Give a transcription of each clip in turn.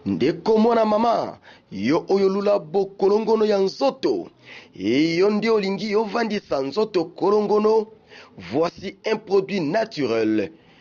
ndeko mwana mama yo oyo lula bokolongono ya nzoto eyo nde olingi ovandisa nzoto kolongono voici un produit naturel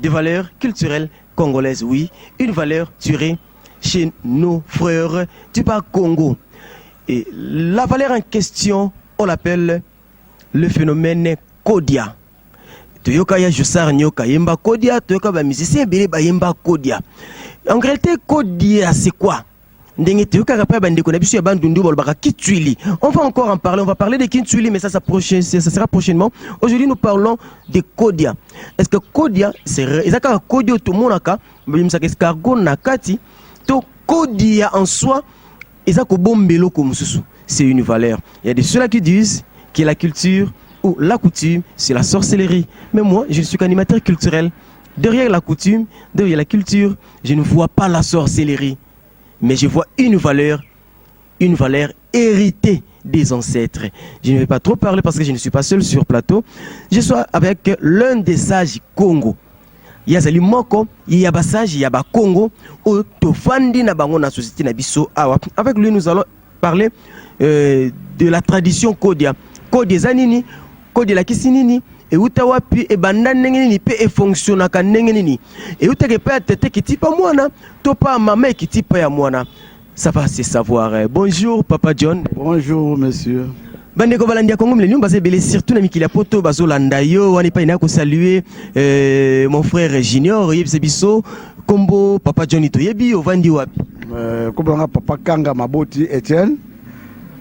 de valeur culturelle congolaise, oui, une valeur tirée chez nos frères du bas Congo. Et la valeur en question, on l'appelle le phénomène Kodia. toyoka ya josar nyoka yemba kodia toyoka bamusicien ebele bayemba kodia en réalité kodia c'est quoi ndenge toyokaka mpe ya bandeko na biso ya bandundu balobaka kitswili on va encore en parler on va parler de kitswili mais ça, ça, prochain, ça sera prochainement aujourd'hui nous parlons de kodia est ce que kodia eza kaka kodia oyo tomonaka babimisaka escargo na kati to kodia en soi eza kobomba eloko mosusu c'est une valeur il y a de ceux-là qui disent que la culture ou la coutume c'est la sorcellerie mais moi je suis qu'animateur culturel derrière la coutume derrière la culture Je ne vois pas la sorcellerie, mais je vois une valeur, une valeur héritée des ancêtres. Je ne vais pas trop parler parce que je ne suis pas seul sur plateau. Je suis avec l'un des sages Congo. yazali moko ya basage ya bakongo oyo tofandi na bango na société na biso awa avec lui nous allons parler euh, de la tradition kodia kodia eza nini kodia elakisi nini euta wapi ebanda ndenge nini mpe efonctionnaka ndenge nini eutaka epai ya tete kitipa mwana to pa mama ekitipa ya mwana ça va se savoir bonjour papa john bonjour monsieur Bandeko balandi ya Congo Millennium baza ebele surtout na mikili ya poto bazolanda yo wana epai naya kosalue euh, mon frère Junior oyebisa biso kombo papa Johnny toyebi ovandi wapi euh, kombo nanga papa Kanga Maboti Etienne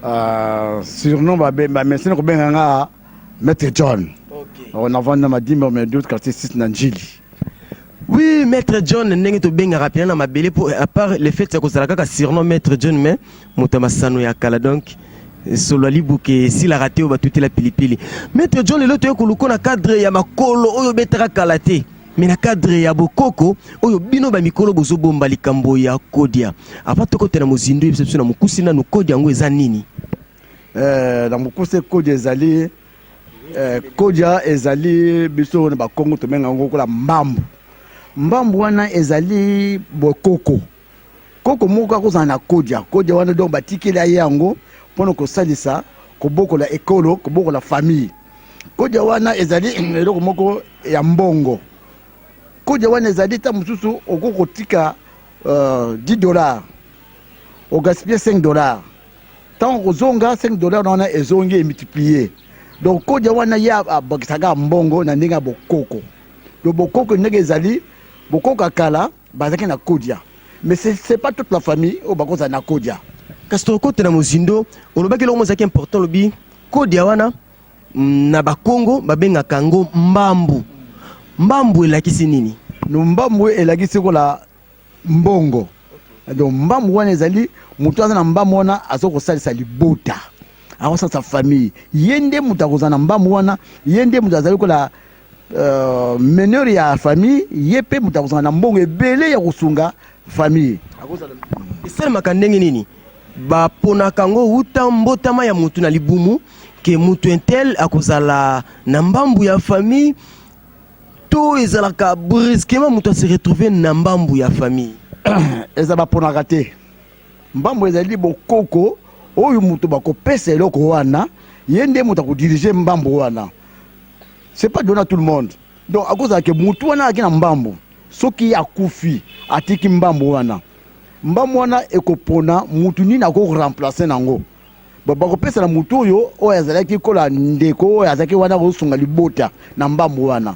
euh, surnom bamesi na kobenga nga Maître John okay. Oh, navandi na madimba mais d'autres quartier 6 na Njili oui maître john ndenge tobengaka mpena na mabele mpo à part le fait ya kozala kaka surnom maître john mais moto ya masano ya kala donc solo ya libuke esilaka te oyo batutela pilipili maître john lelo toye koluko na cadre ya makolo oyo obetaka kala te me na cadre ya bokoko oyo bino bamikolo bozobomba likambo ya kodia apa tokotela mozindo yebisa biso na mokuse nanu kodia yango eza nini eh, na mokuse kodia ezali eh, kodia ezali biso na bakongo tomenga yango lokola mbambu mbambu wana ezali bokoko Koko moko akozala na kodia kodia wana donc batikeli aye yango mpona kosalisa kobokola ekolo kobokola famille kodia wana ezali eloko moko ya mbongo kodia wana ezali ntango mosusu okoki kotika uh, 10 dollar ogaspille 5 dollar ntango kozonga 5 dollar wana ezongi emultiplie donc kodia wana ye abakisaka mbongo na ndenge ya bokoko donc bokoko ndenge ezali bokoko ya kala Bazalaki na Kodia. Mais c'est pas toute la famille oyo bakozala na Kodia. Kasi tokokotela mozindo, olobaki eloko mozalaki important, olobi Kodia wana mm, na Bakongo babengaka yango mbambu. Mbambu elakisi nini? No, mbambu elakisi kola mbongo. Donc mbambu wana ezali moto aza na mbambu wana aza kosalisa libota akosalisa famille ye nde moto akozala na mbambu wana ye nde moto azali kola Uh, meneur ya famille ye mpe moto akozala na mbongo ebele ya kosunga famille akozala esalemaka ndenge nini baponaka yango uta mbotama ya motu na libumu ke motu intel akozala na mbambu ya famille to ezalaka brusquement moto ase retrouve na mbambu ya famille eza baponaka te mbambu ezali bokoko oyo moto bakopesa eloko wana ye nde moto akodirige mbambu wana c'est pas donné à tout le monde donc akozala ke mutu wana ayaki na mbambu soki akufi atiki mbambu wana mbambu wana ekopona mutu nini akoremplace nango bakopesa na mutu oyo oyo azalaki kola ndeko oyo azalaki wana akosunga libota na mbambu wana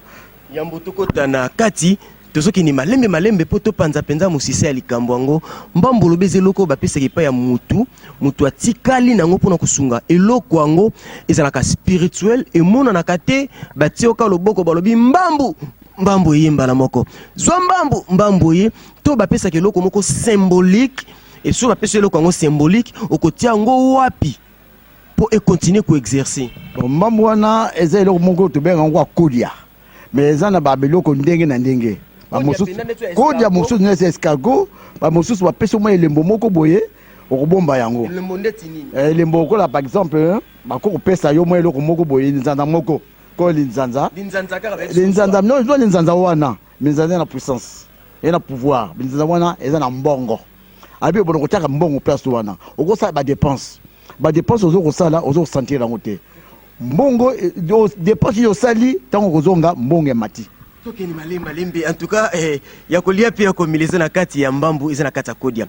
yambo tokota na kati Tozokende malembe malembe mpo topanza mpenza mosisa ya likambo yango. Mbambo lobi eza eloko oyo bapesaka epai ya mutu, mutu atikali nango mpo na kosunga eloko yango. Ezalaka spirituel, emonanaka te, batie oka loboko balobi mbambu mbambu eye mbala moko, zwa mbambu mbambu eye, to bapesaka eloko moko symbolique. Et soki bapesi eloko yango symbolique, okotia yango wapi mpo ekontinue koexerce? Mbambu wana eza eloko moko tobengaka yango akolia. mais eza na ba biloko ndenge na ndenge bamosusu kodia mosusu neti escargo bamosusu bapesi mwa elembo moko boye okobomba yango elembo ndeti nini eh, elembo okola par exemple eh, bako kopesa yo mwa eloko moko boye nzanda moko ko linzanza linzanza no eza linzanza wana minzanza na puissance eza na pouvoir minzanza wana eza na mbongo abi obono kotiaka mbongo place wana okosala badepense badepense ozo kosala ozo kosentir yango te mbongo depense yo osali ntango kozonga mbongo emati tokende malembe malembe en tout cas eh, ya kolia mpe ya komela eza na kati ya mbambu eza na kati ya kodia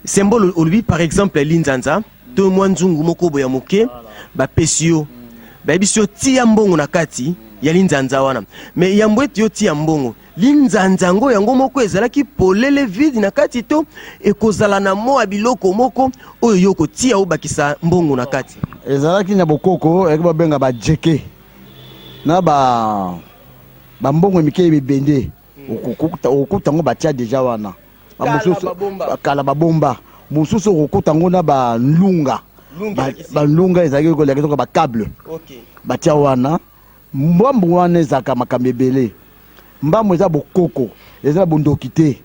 symbole olobi par exemple linzanza to mwa nzungu moko boya moke bapesi yo bayebisi yo tia mbongo na kati ya linzanza wana me yambo ete yo tia mbongo Linzanza yango yango moko ezalaki polele vide na kati to ekozala na mwa biloko moko oyo yo okotia obakisa mbongo na kati? Ezalaki na bokoko eyaki babenga bajeke na ba bambongo mike ya bibende okokuta yango batia deja wana kala babomba mosusu okokuta yango na balunga balunga ezalaki kolakisa bacable batia wana Mbwambu wana ezalaka makambo ebele. Mbambu eza bokoko, eza na bondoki te.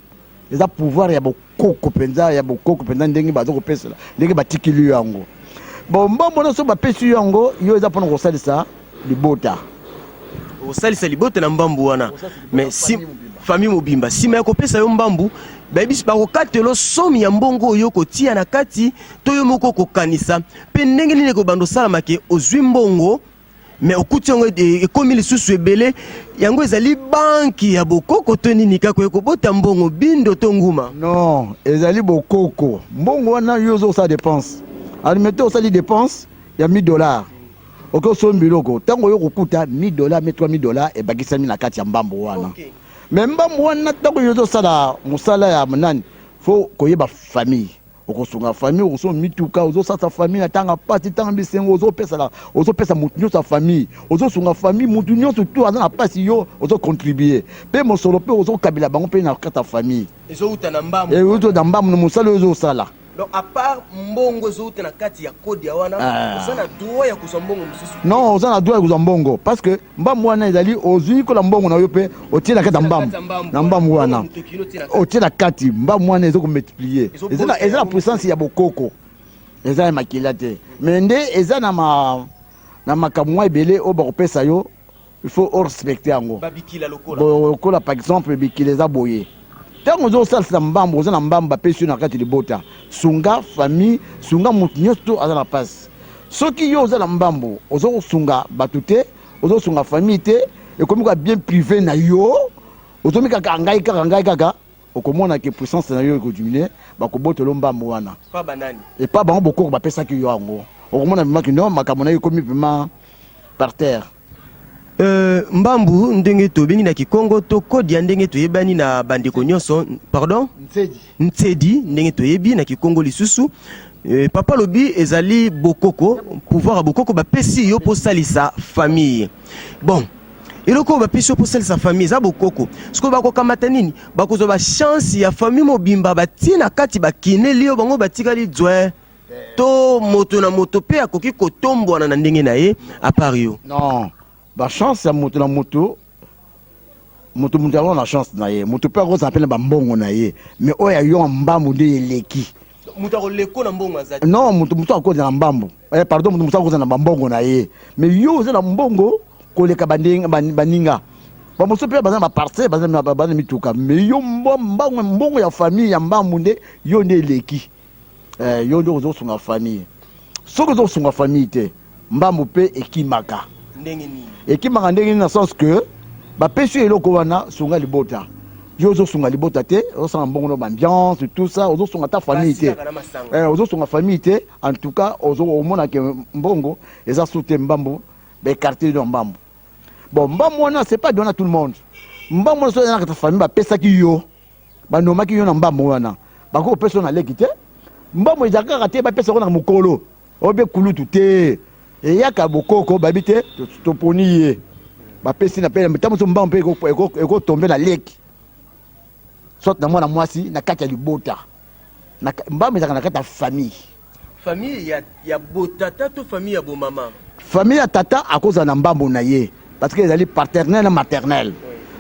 Eza pouvoir ya bokoko mpenza, ya bokoko mpenza ndenge baza kopesela, ndenge batikili yo yango. Bon, mbwambu wana soki bapesi yo yango, yo eza mpona kosalisa libota. Osalisa libota na mbambu wana. Mais si famille mobimba sima ya kopesa yo mbambu bayebisi bakokatelo somi ya mbongo oyo kotia na kati to yo moko kokanisa mpe ndenge nini ekobanda osalama ke ozwi mbongo mais okuti yango ekomi lisusu ebele yango ezali banki ya bokoko to nini kaka ekobota mbongo bindo to nguma non ezali bokoko mbongo wana yo ozosala dépense alimete osali dépense ya 1000 dollars oke osombi biloko ntango oyo kokuta 1000 dollars me 3000 dollars ebakisami na kati ya mbambo wana okay. me mbambo wana ntango yo ozosala mosala ya monani fo koyeba famille okosunga famille okosoma mituka ozosasa famille na tanga pasi tanga bisengo ozopesala ozopesa motu nyonso ya famille ozosunga famille motu nyonso tu aza na pasi yo ozocontribue mpe mosolo mpe ozokabela bango mpe na kati ya famille ezouta na mbamu euta na mbamu na mosala oyo ozosala donc à part mbongo ezouta na kati ya kode ya wana ah. oza na droit ya kozwa mbongo mosusu non oza na droit ya kozwa mbongo parce que mbamu wana ezali ozwi kola mbongo na yo mpe otie na kati ya mbambu na mbambu wana otie na kati mbambu wana ezo komultiplier eza na puissance ya bokoko eza ya makila te me nde eza na ma na makambo mwa ebele oyo bakopesa yo il faut orespecte yango lokola par exemple bikila eza boye ntango ozo osalisa mbambu oza na mbambu bapesi yo na kati libota sunga famille sunga moto nyonso to aza na mpasi soki yo oza na mbambu ozo kosunga bato te ozo sunga famille te ekomi ka bien privé na yo ozo mi kaka ngai kaka ngai kaka okomona ke puissance na yo ekodiminue bakobotolo mbambo wana epa bango bokoko bapesaki yo yango okomona vraimen kino makambo na yo ekomi vraimen par terre Euh, mbambu ndenge tobengi na kikongo to kodi ya ndenge toyebani na bandeko nyonso pardon Nsedi. Nsedi ndenge toyebi na Kikongo lisusu Eh, papa lobi ezali bokoko pouvoir ya bokoko bapesi yo mpo osalisa famille bon eloko oyo bapesi yo mpo osalisa famille eza bokoko sikoyo bakokamata nini bakozwa bachance ya famille mobimba batie na kati bakineli yo bango batikali dzwe to moto na moto mpe akoki kotombwana na ndenge na ye apart yo non bachance ya moto na moto moto moto yango na chance na ye moto mpe akozala mpe na bambongo na ye mais oyo ya yo ya mbambu nde eleki moto akoleko na mbongo azali non moto moto akozala na mbambu eh, pardon moto moto akozala na bambongo na ye mais yo oza na mbongo koleka baninga bamosusu mpe baza na baparcele baza na mituka mais yo mbongo ya famille ya mbambu nde yo nde eleki Eh, yo nde ozo sunga famille. Soki ozo sunga famille te, mbambu pe ekimaka. Ndenge nini? Ekimaka ndenge nini na sens que ba pesi yo eloko wana sunga libota. Yo ozo sunga libota te, ozo sanga mbongo na ambiance tout ça, ozo sunga ta famille te. Eh, ozo sunga famille te. En tout cas, ozo omona ke mbongo eza soute mbambu, ba écarter yo mbambu. Bon, mbambu wana c'est pas donné à tout le monde. Mbambu wana soki na ta famille ba pesaki yo. banomaki yo na mbambo wana bakoki kopesa na leki te mbambo ezalaka kaka te bapesa yango na mokolo obe kulutu te eyaka bokoko bayebi te toponi ye bapesi na pele ntango mosusu mbambo mpe ekotombe na leki soit na mwana mwasi na kati ya libota mbambo ezalaka na kati ya famille Famille ya, ya botata to famille ya bomama? Famille ya tata akozala na mbambo na ye parce que ezali paternel na maternel.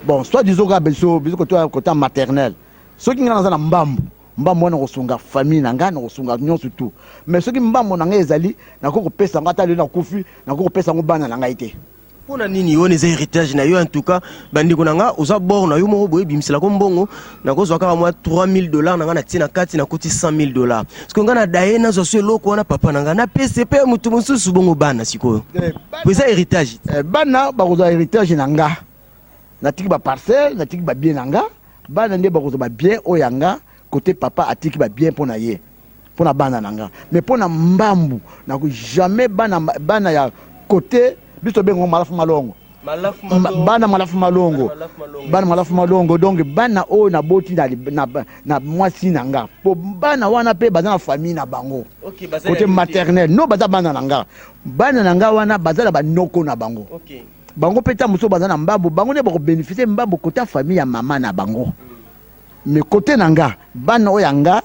Bon, soit disons kaka biso biso koto ya kota maternel. Soki ngai naza na mbambo mbambo wana kosunga famille na ngai nakosunga nyonso tu mais soki mbambo na ngai ezali nakoki kopesa yango ata lelo nakufi nakoki kopesa yango bana na ngai te mpo na nini wana eza héritage na yo en tout cas bandeko na nga oza bor na yo moko boye bimiselako mbongo nakozwa kaka mwa 3000 dollars na nga natie na kati nakuti 100000 dollars sikoyo nga na daye nazwa so eloko wana papa na nga napesi mpe moto mosusu bongo bana sikoyo eh, po eza héritage eh, bana bakozwa héritage na nga natiki baparcelle natiki babien na nga bana nde bakozwa babien oyo ya nga kote papa atiki babien mpo na ye pona bana na nga mais pona mbambu na jamais bana bana ya kote biso tobengo malafu malongo bana malafu malongo bana malafu malongo donc bana oyo naboti na mwasi na nga mpo bana wana mpe baza na famille na bango kote maternel no baza bana na nga bana na nga wana baza na banoko na bango bango mpe ntango mosusu baza na mbambo bango nde bakobénéficie mbambo kota famille ya mama na bango mais kote na nga bana oyo ya nga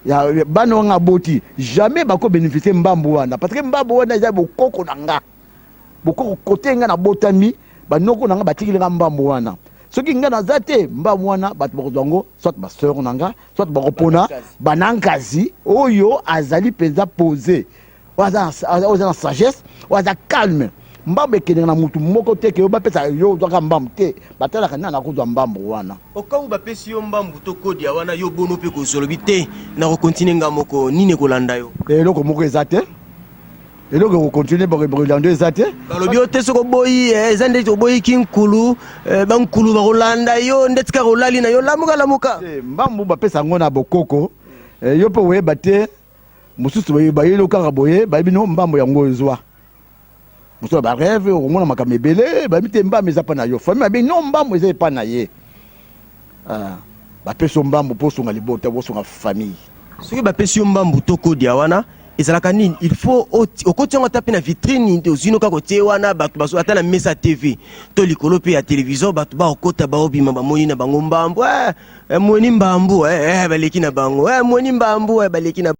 ya bana wanga aboti jamais bako bénéficier mbambu wana parce que mbambu wana eza bokoko na nga bokoko kote nga nabotami banoko na nga batikili nga mbambu wana soki nga naza te mbambu wana bato bakozwa yango soit baseur na nga soit bakopona banankazi oyo azali mpenza pose oyo aza na sagesse oyo aza calme mbambo ekendeka na motu moko te ke yo bapesa yo ozwaka mbambo te batalaka nani akozwa mbambo wana okangu bapesi yo mbambo to kodia wana yo bono mpe kozolobi te na kokontinue nga moko nini ekolanda yo eloko moko eza te eloko ekokontinue bakolanda eza te balobi yo te soki oboyi eh, eza ndeti oboyi kinkulu eh, bankulu bakolanda yo ndeti kaka olali na yo lamuka lamuka mbambo bapesa yango na bokoko eh, yo mpe oyeba te mosusu bayeli okaka boye bayebi no mbambo yango ezwa mosusu ya bareve okomona makambo ebele bayebi te mbambo eza mpa na yo famille abengi no mbambo eza epa na ye ah, bapesi yo mbambo mpo osunga libota osunga famille soki bapesi yo mbambo to kodia wana ezalaka nini il faut okoti yango ata mpe na vitrine ozwino kaka otie wana bato bazo ata na mesa tv to likolo mpe ya televizio bato bakokota baobima bamoni na bango mbambo eh! eh, mweni mbambu eh, eh, baleki na bango eh, mweni mbambu eh, baleki na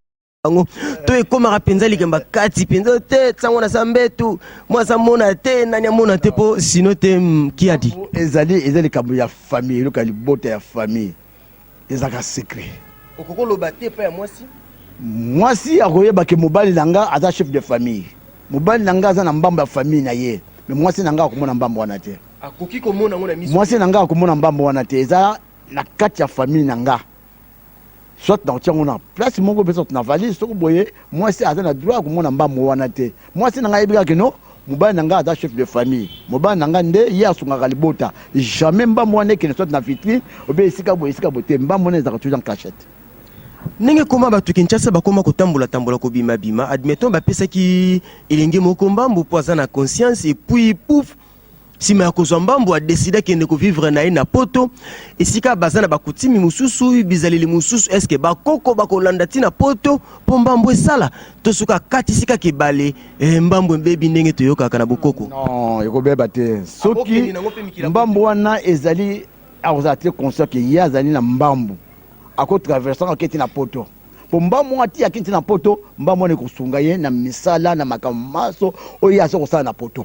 bango to ekomaka mpenza likemba kati mpenza te ntango na sambetu mwasi amona te nani amona te mpo sino te mm, kiadi ezali eza likambo ya famille eloka libota ya famille ezalaka secret okoki oloba te epai ya mwasi mwasi akoyeba ke mobali na nga aza chef de famille mobali na nga aza na mbambo ya famille na ye me mwasi na nga akomona mbambo wana te akoki komona yango na miso mwasi na ngai akomona mbambo wana te eza na kati ya famille na ngai soit na kotia yango na place moko mpe soit na valise soko boye mwasi aza na droit ya komona mbambo wana te mwasi na ngai ayebi kaka kino mobali na ngai aza chef de famille mobali na ngai nde ye asungaka libota jamais mbambo wana ekende soit na vitrine obe esika boye esika boye te mbambo wana ezalaka toujours en cachette ndenge koma bato kinshasa bakoma kotambolatambola kobimabima admettons bapesaki elenge moko mbambo mpo aza na conscience epuis pouf Sima ya kozwa mbambu, a decida kende ko vivre na ye na poto, esika baza na bakutimi mosusu, bizaleli mosusu. Eske bakoko bakolanda ti na poto po mbambu esala to soki akatisi kaka ebale, eh, mbambu ebebi ndenge toyokaka na bokoko? Non, ekobeba te soki mbambu wana ezali akozala te conscient ke ye azali na mbambu, ako traverse yango aketi na poto po mbambu wana ti aketi na poto, mbambu wana ekosunga ye na misala na makambo manso oyo ye aza kosala na poto.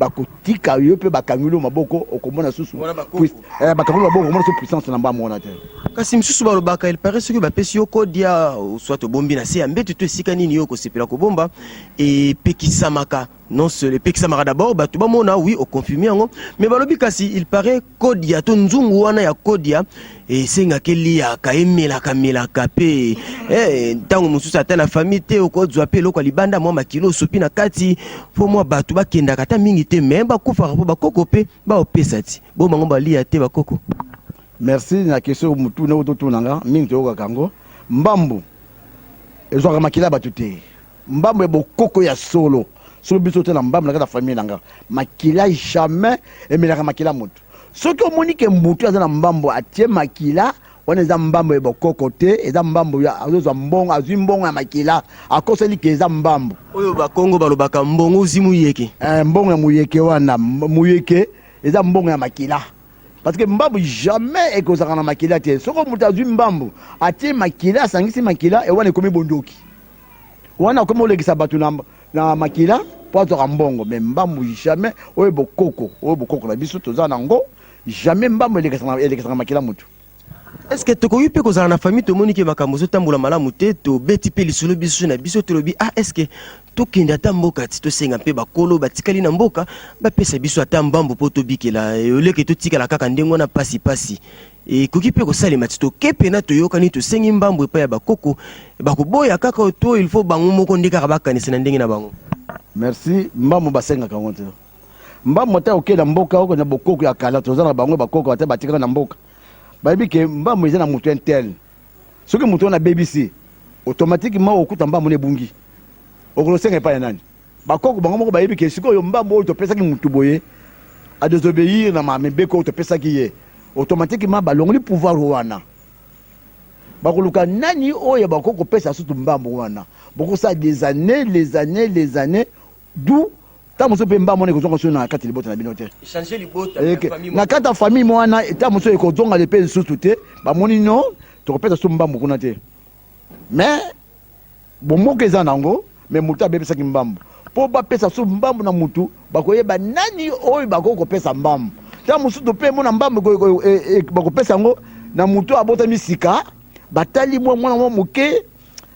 bakotika yo mpe bakangeli yo maboko okomona susu eh, bakangeli maboko okomona susu puissance na mbango wana te kasi misusu balobaka il paraît soki bapesi yo kodia soit obombi na se ya mbeto to esika nini yo okosepela kobomba epekisamaka non seul epekisamaka d'abord bato bamona oui oconfirme yango mais balobi kasi il paraît kodia to nzungu wana ya kodia esengaka eliaka emelaka melaka mpe eh, ntango mosusu ata na famille te okozwa mpe eloko ya libanda mwa makilo osopi na kati mpo mwa bato bakendaka ata mingi te me bakufaka mpo bakoko mpe baopesa ti bo bango balia te bakoko merci na question motuna oyo totuna nga mingi toyokaka yango mbambu ezwaka makila ya bato te Mbambu ya bokoko ya solo. Soki biso te na mbambu na kati ya famille na nga, makila jamais emelaka makila mutu. Soki omoni ke mutu aza na mbambu atie makila, wana eza mbambu ya bokoko te, eza mbambu ya azozwa mbongo, azwi mbongo ya makila, akoseli ke eza mbambu. Oyo ba kongo balobaka mbongo ozwi muyeke. Eh, mbongo ya muyeke wana, muyeke eza mbongo ya makila. Parce que mbambu jamais ekozalaka na makila te. Soki mutu azwi mbambu atie makila, asangisi makila, eh wana ekomi bondoki. wana akomi olekisa bato na, na makila mpo azwaka mbongo me mbambu jamais oyo bokoko oyo bokoko na biso toza na yango jamais mbambu elekisaka makila motu eske tokoki mpe kozala na famille tomoni ke makambo ezotambola malamu te tobeti mpe lisolo biso na biso tolobi ah eske tokende ata mboka ti tosenga mpe bakolo batikali na mboka bapesa biso ata mbambu mpo tobikela oleke totikala kaka ndenge wana pasi pasi ekoki mpe kosalema ti tokepe na toyokani tosengi mbambo epai ya bakoko bakoboya kaka oyo to ilfo bango moko nde kaka bakanisa na ndenge na bango merci mbambo basengaka yango te mbambo ata okei na mboka oko na bokoko ya kala toza na bango bakoko ata batikaka na mboka bayebi ke mbambo eza na moto intel soki moto wana abebisi automatikement okuta mbambo na ebungi okosenga epai ya nani Ba koko bango moko bayebi ke sikoyo mbangu oyo topesaki mutu boye a desobeir na ma mibeko oyo topesaki ye automatiquement balongoli pouvoir wana bakoluka nani oyo bakoki kopesa sutu mbambu wana bokosala des années les années les années du ntango mosusu mpe mbambu wana ekozonga so na kati libota na bino te na kati ya famille mwana ntango mosusu ekozonga mpe lisusu te bamoni no tokopesa so mbambu kuna te mais Bomoko eza nango mais mutu abebesaki mbambu po bapesa su mbambu na mutu bakoyeba nani oyo bakoki kopesa mbambu tango mususu tope mona mbambu bakopesa yango na mutu abotami sika batali mwa mwana mwa moke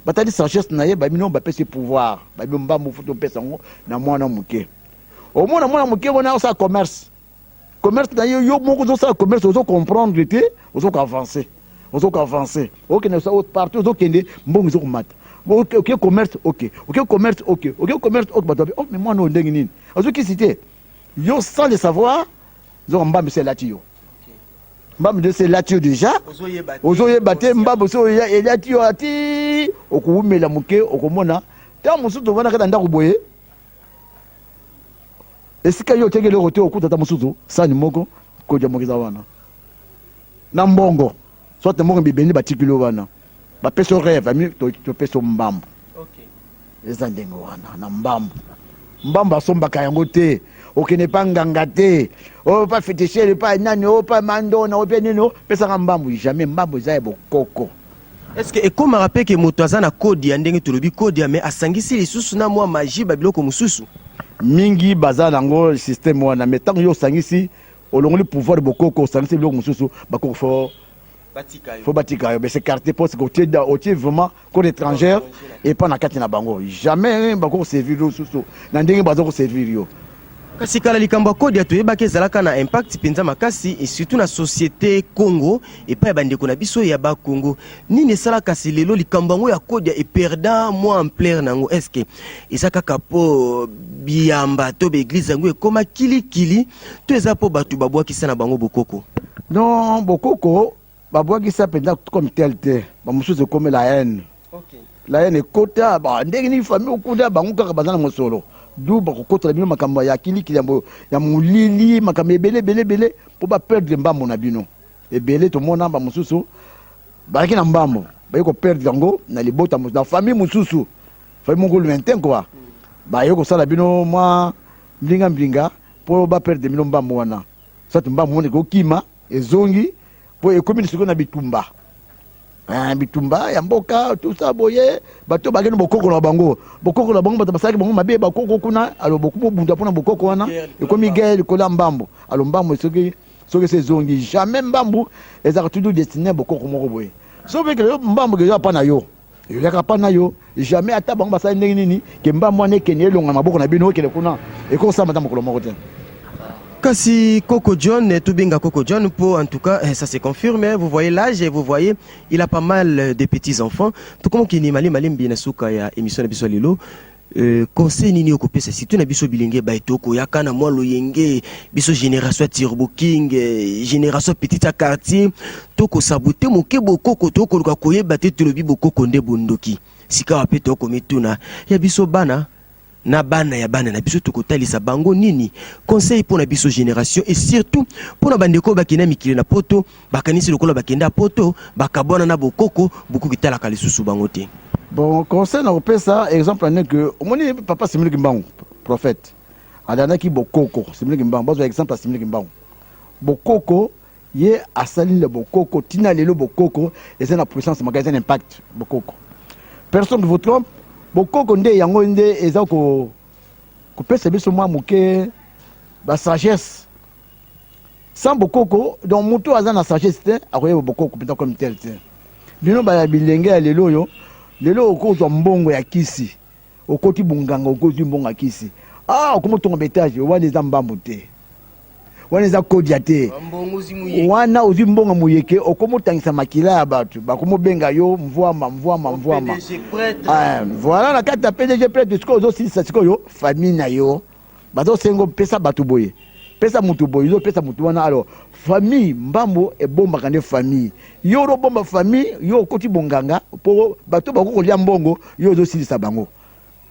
batali sagesse na ye babino bapesi pouvoir babino mbambu futu opesa yango na mwana moke omona mwana moke wana osala commerce commerce na yo yo moko ozosala commerce ozo comprendre te ozo ko avancer ozo ko avancer okende partout ozo kende mbongo ezo komata ok ok commerce ok ok commerce ok ok commerce ok bato babe oh mais mwana oyo ndenge nini azokisi te yo sans le savoir zoka mbambi se elati yo mbambi nde se elati yo déjà ozoyeba te mbambi se elati yo ati okowumela moke okomona ntango mosusu ovandaka na ndako boye esika yo otiaki eloko te okuta ata mosusu sani moko koja moko eza wana na mbongo soit mbongo bibeni batikili yo wana bapesi yo reve ami topesi yo mbambo eza ndenge wana na mbambo mbambo asombaka yango te okende pa nganga te oyo pa fetishere pa nani oyo pa mandona oyo pe nini pesaka mbambo jamais mbambo eza ya bokoko Est-ce que ekomaka mpe ke moto aza na kodi ya ndenge tolobi kodi ya mais asangisi lisusu na mwa magie ba biloko mosusu mingi baza nango système wana mais ntango yo osangisi olongoli pouvoir bokoko osangisi biloko mosusu bakoko fo fo batika yo bese carte poste otie otie vraiment code étrangère epa na kati na bango jamais bakoko servir yo susu na ndenge baza koservir yo Kasi kala likambo ya Kodia toyebaki ezalaka na impact mpenza makasi et surtout na societe Congo epai ya bandeko na biso ya ba Congo. Nini esala kasi lelo likambo yango ya Kodia e perda mwa ampleur na yango est-ce que eza kaka mpo biyamba to baeglise yango ekoma kilikili to eza mpo bato babwakisa na bango bokoko? Non, bokoko Babwakisi ya mpenza comme tel te, bamosusu ekomi la haine. Okay. La haine ekota ba ndenge nini famille okuta bango kaka baza na mosolo. D'où bakokotela bino makambo ya kilikili ya molili, makambo ebele ebele ebele mpo ba perdre mbambo na bino. Ebele tomona bamosusu bazalaki na mbambo baye koperdre yango na libota na famille mosusu famille moko lointain kua mm. baye kosala bino mwa mbinga mbinga mpo baperdre bino mbambo wana sati mbambo wana ekokima ezongi po ekomi lisiko na bitumba eh, bitumba ya mboka tusa boye bato bake na bokoko na bango bokoko na bango bato basalaki bango mabe bakoko kuna alo bokobunda mpo na bokoko wana ekomi guerre likolo ya mbambo alo mbambo esoki soki se ezongi jamais mbambo ezalaka toujours destiné bokoko moko boye soki ekele yo mbambo ezo apa na yo ezalaka pa nayo jamais ata bango basali ndenge nini ke mbambo wana ekende elonga na maboko na bino ekende kuna ekosala mata mokolo moko te Kasi Coco John, eh, tout binga Coco John, pour en tout cas, eh, ça se confirme. Eh, vous voyez l'âge et vous voyez, il a pas mal de petits enfants. Tout comme qui ni mali malimbi na souka ya émission de Bissolilo. Euh, conseil nini okopesa surtout na biso bilenge baye tokoyaka na mwa loyenge biso génération ya turbo king euh, génération petite ya quartier tokosabote moke bokoko tokoluka koyeba te tolobi bokoko nde bondoki sikawa mpe tokomituna ya biso bana na bana ya bana na biso tokotalisa bango nini conseil mpo na biso génération et surtout mpo na bandeko oyo bakenda mikili na poto bakanisi lokola bakenda poto bakabwana na bokoko bokoki talaka lisusu bango te bon conseil na kopesa exemple ane ke omoni papa simili kimbangu prophète alandaki bokoko simili kimbangu bazwa exemple ya simili kimbangu bokoko ye asali le bokoko ntina lelo bokoko eza na puissance maka eza na impact bokoko personne ne vous trompe bokoko nde yango nde eza kopesa biso mwa moke basagesse sans bokoko donc moto oyo aza na sagesse te akoyeba bokoko mpenza comme tel te bino baya bilenge ya lelo oyo lelo okozwa mbongo ya kisi okoti bonganga okozwi mbongo ya kisi ah okomotonga betage wana eza mbambu te wana eza kodia te wana ozwi mbongo moyeke okomotangisa makila ya bato bakomobenga yo mvwama mvwama mvwama ah, voilà na kati ya pdg prêtre sikoyo ozosilisa sikoyo famille na yo Bazo sengo pesa batu boye pesa mutu boye yo pesa mutu wana alors famille mbambo ebombaka nde famille yo olo bomba famille yo okoti bonganga po bato bako kolia mbongo yo ozo silisa bango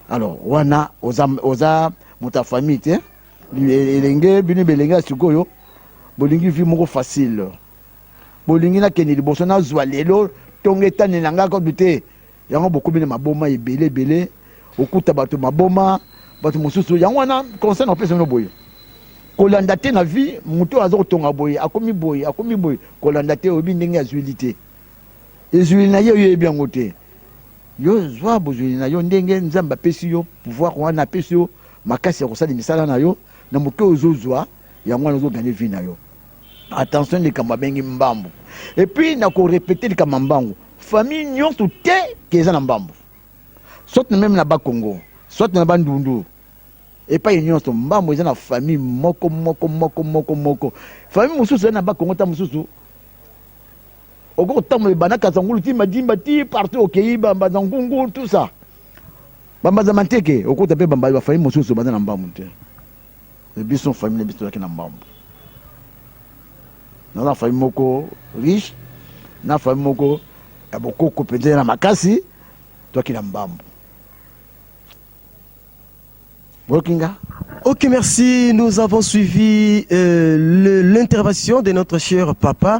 alors wana oza oza moto ya famille te elenge bino belenge ya sikoyo bolingi vie moko facile bolingi nakende liboso nazwa lelo ntongo etani na ngai kodu te Yango bokomi na maboma ebele ebele, okuta bato maboma, bato mosusu. Yango wana conseil na kopesa bino boye, kolanda te na vie moto oyo aza kotonga boye, akomi boye, akomi boye, kolanda te, oyebi ndenge azwili te ezwili na ye, oyo oyebi yango te. Yo zwa bozwili na yo ndenge Nzambe apesi yo pouvoir wana, apesi yo makasi ya kosala misala na yo na moke ozozwa yango wana, ozoganye vie na yo. Attention likambo abengi mbambu. Et puis na ko repeter likambo ya mbangu. Famille nyonso te ke eza na mbambu. Soit na meme na ba Congo, soit na ba Ndundu. Epai nyonso mbambu eza na famille moko moko moko moko moko. Famille mosusu eza na ba Congo ta mosusu. Oko kotambola bana Kazangulu ti Madimba ti partout okeyi ba Mbanza Ngungu tout ça. Ba Mbanza Manteke okota pe ba Mbanza famille mosusu baza na mbambu te. Mais biso famille na biso tozalaki na mbambu. Naza na famille moko riche, na famille moko ya bokoko mpenza na makasi, tozalaki na mbambu. Boyoki nga? Ok, merci. Nous avons suivi euh, le- l'intervention de notre cher papa.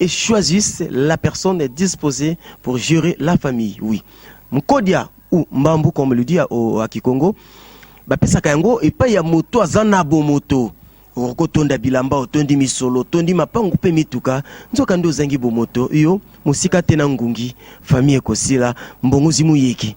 et choisissent la personne disposee pour gerer la famille oui mkodia ou mbambu comme le dit à kikongo bapesaka yango epai ya moto aza na bomoto okotonda bilamba otondi misolo otondi mapangu mpe mituka nzoka nde ozangi bomoto yo mosika te na ngungi famille ekosila mbongozi moyeki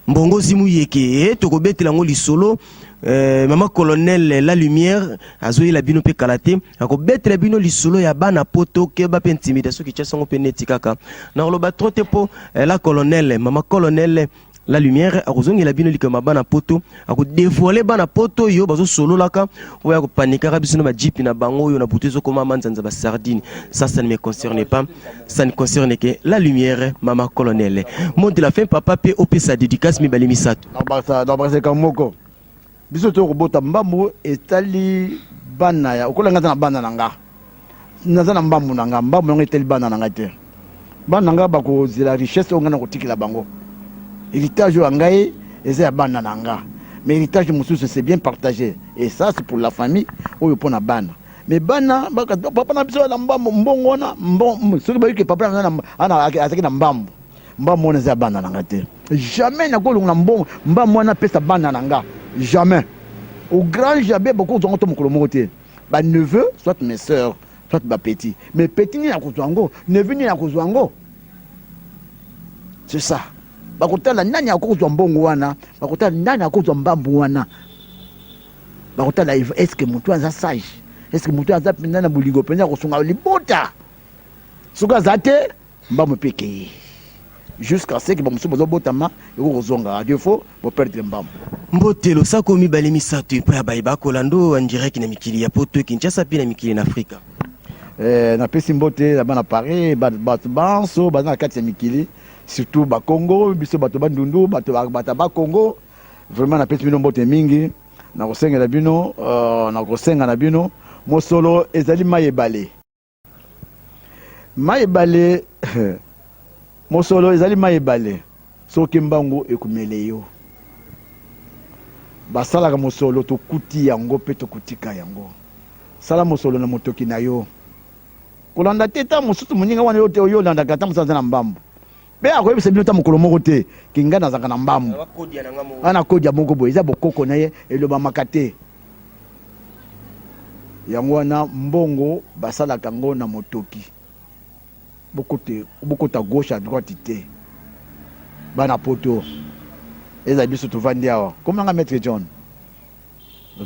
Mbongo zimu yeke eh, tokobetela yango lisolo eh, mama colonel eh, la lumière azoyela bino mpe kala te akobetela bino lisolo ya bana poto keba mpe intimidation kityasa yango mpe neti kaka nakoloba tro te mpo eh, la colonel mama colonel la lumière akozongela bino likambo ya bana poto akodevoile bana poto oyo bazosololaka oyo akopanikaka biso na bajipi na bango oyo na butu ezokoma manzanza basardine ça ça ne me concerne pas ça ne concerne que la lumière mama colonel mot de la fin papa mpe opesa dédicace mibale misato nabraseka moko biso toyo kobota mbambu etali bana ya okolanga ata na bana na nga naza na mbambu na nga mbambu yango etali bana na ngai te bana na ngai bakozela richesse oyo ngai nakotikela bango héritage oyo ya ngai eza ya bana na nga mais héritage mosusu c'est bien partagé et ça c'est pour la famille oyo mpo na bana mais bana papa na biso na mbambu mbongo wana soki bayoki papa na ngai azalaki na mbambu mbambu wana eza ya bana na nga te jamais nakolonga na mbongo mbambu wana apesa bana na nga jamais au grand jamais bakozwa ngo to mokolo moko te Ba neveux soit mes soeurs soit ba petits mais petit nini akozwa yango neveux nini akozwa yango c'est ça bakotala nani akozwa mbongo wana bakotala nani akozwa mbambu wana bakotala eske motu aza sage eske motu aza mpenza na bolingo mpenza ya kosunga libota soki aza te Mbangu pe ekeyi jusqu'à ce que ba mosusu bazo botama eko kozonga à defaut bo perdre mbangu. Mbote losako mibale misato epai ya baye bakolanda o en direct na mikili ya poto, Kinshasa mpe na mikili na Afrika. Eh, napesi mbote na bana Paris, bato banso baza na kati ya mikili, surtout ba Congo, biso bato ba Ndundu, bato bata ba Congo. Vraiment napesi bino mbote mingi, nakosengela bino, euh, nakosenga na bino mosolo ezali mai ebale. Mai ebale mosolo ezali mai ebale soki mbangu ekumele yo basalaka mosolo tokuti yango mpe tokotika yango sala mosolo na motoki na yo kolanda te ntango mosusu moninga wana yo te oyo olandaka ata mosusu aza na mbambu Mpe akoyebisa bino ata mokolo moko te ke ngai nazalaka na mbambu aa na kodia moko boye, eza bokoko na ye, elobamaka te. Yango wana mbongo basalaka yango na motoki, bokota gauche à droite te bana poto, ezala biso tovandi awa, kombo na ngai Maitre John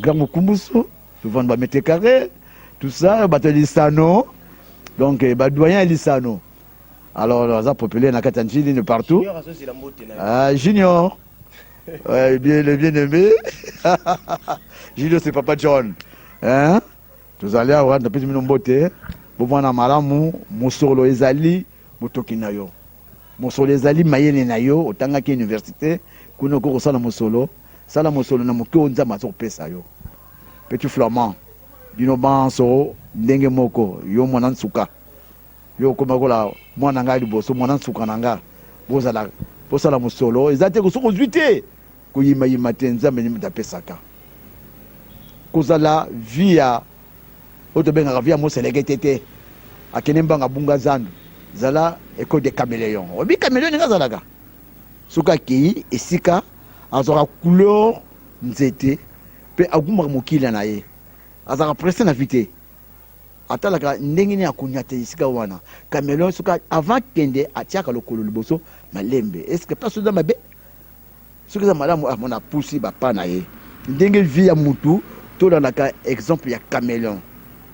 Grand Mukumbusu, tovandi ba mètres carres tout ça, bato ya lisano donc ba doyens ya lisano. Alors aza populaire na kati ya njili ne partout. Ah, junior. ouais, bien, le bien aimé. junior c'est papa John. Hein? Tozali awa napesi bino mbote. Bomwana malamu mosolo ezali motoki na yo. Mosolo ezali mayele na yo otangaki université kuna okoki kosala mosolo sala mosolo na moke oyo nzambe aza kopesa yo petit flamand bino banso ndenge moko yo mwana nsuka Yo okomi lokola mwana na nga ya liboso, mwana nsuka na nga. Bozala, bosala mosolo. Eza te soki ozwi te, koyima yima te. Nzambe nde moto apesaka. Kozala vie ya oyo tobengaka vie ya moselekete te. Akende mbanga abunga zandu. Zala ecole de cameleon. Oyebi cameleon ndenge azalaka? Soki akei esika azwaka couleur nzete mpe agumbaka mokila na ye. Azalaka presse na vie te. Atalaka ndenge nini akonyata esika wana cameleon soki avant kende atiaka lokolo liboso malembe est ce que place oza mabe soki eza malamu amona ah, pusi bapa na ye ndenge vie ya mutu tolandaka exemple ya cameleon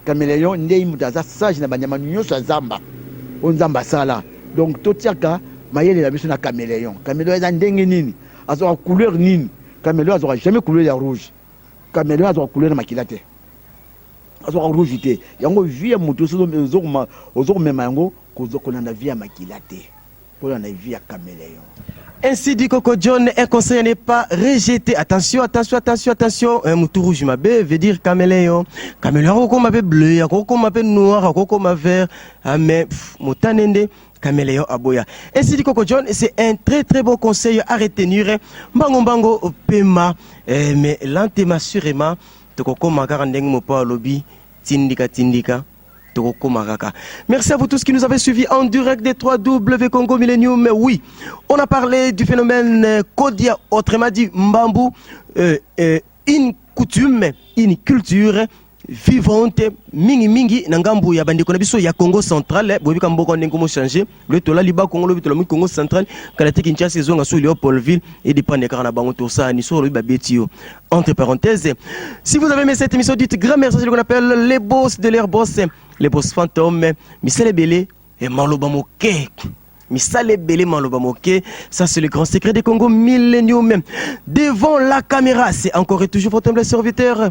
cameleon ndenge mutu aza sage na banyama nyonso ya zamba oyo nzambe asala donc totiaka mayele na biso na cameleon cameleon eza ndenge nini azwaka couleur nini cameleon azwaka jamais couleur ya rouge cameleon azwaka couleur na makila te azwaka rouge te yango vie ya moto ozo komema yango kolanda vie ya makila te kolanda vie ya cameleon Ainsi dit Coco John, un conseil n'est pas rejeté. Attention, attention, attention, attention. Un moutou rouge ma bé veut dire caméléon. Caméléon koko ma bé bleu, koko ma bé noir, koko ma vert. Ah mais motanende caméléon aboya. Ainsi dit Coco John, c'est un très très bon conseil à retenir. Mbango mbango pema, eh, mais lentement sûrement. Tokokoma kaka ndenge mopao alobi tindika tindika tokokoma kaka. Merci à vous tous qui nous avez suivis en direct des 3 W Congo Millennium. Mais oui, on a parlé du phénomène euh, Kodia, autrement dit Mbambu, euh, euh, une coutume, une culture vivante mingi mingi na ngambo ya bandeko na biso ya Congo central boyebi ka mboka ndenge komo changer loye tolali bakongo lobi tolami congo central kala te kinshasa ezonga so leopoldville edepende kaka na bango tosani so olobi babeti yo entre parenthèse si vous avez aimé cette émission dites grand merci celui qu'on appelle les boss de leur boss les boss fantômes misala ebele e maloba moke misala ebele maloba moke ça c'est le grand secret de congo millénium devant la caméra c'est encore et toujours votre humble serviteur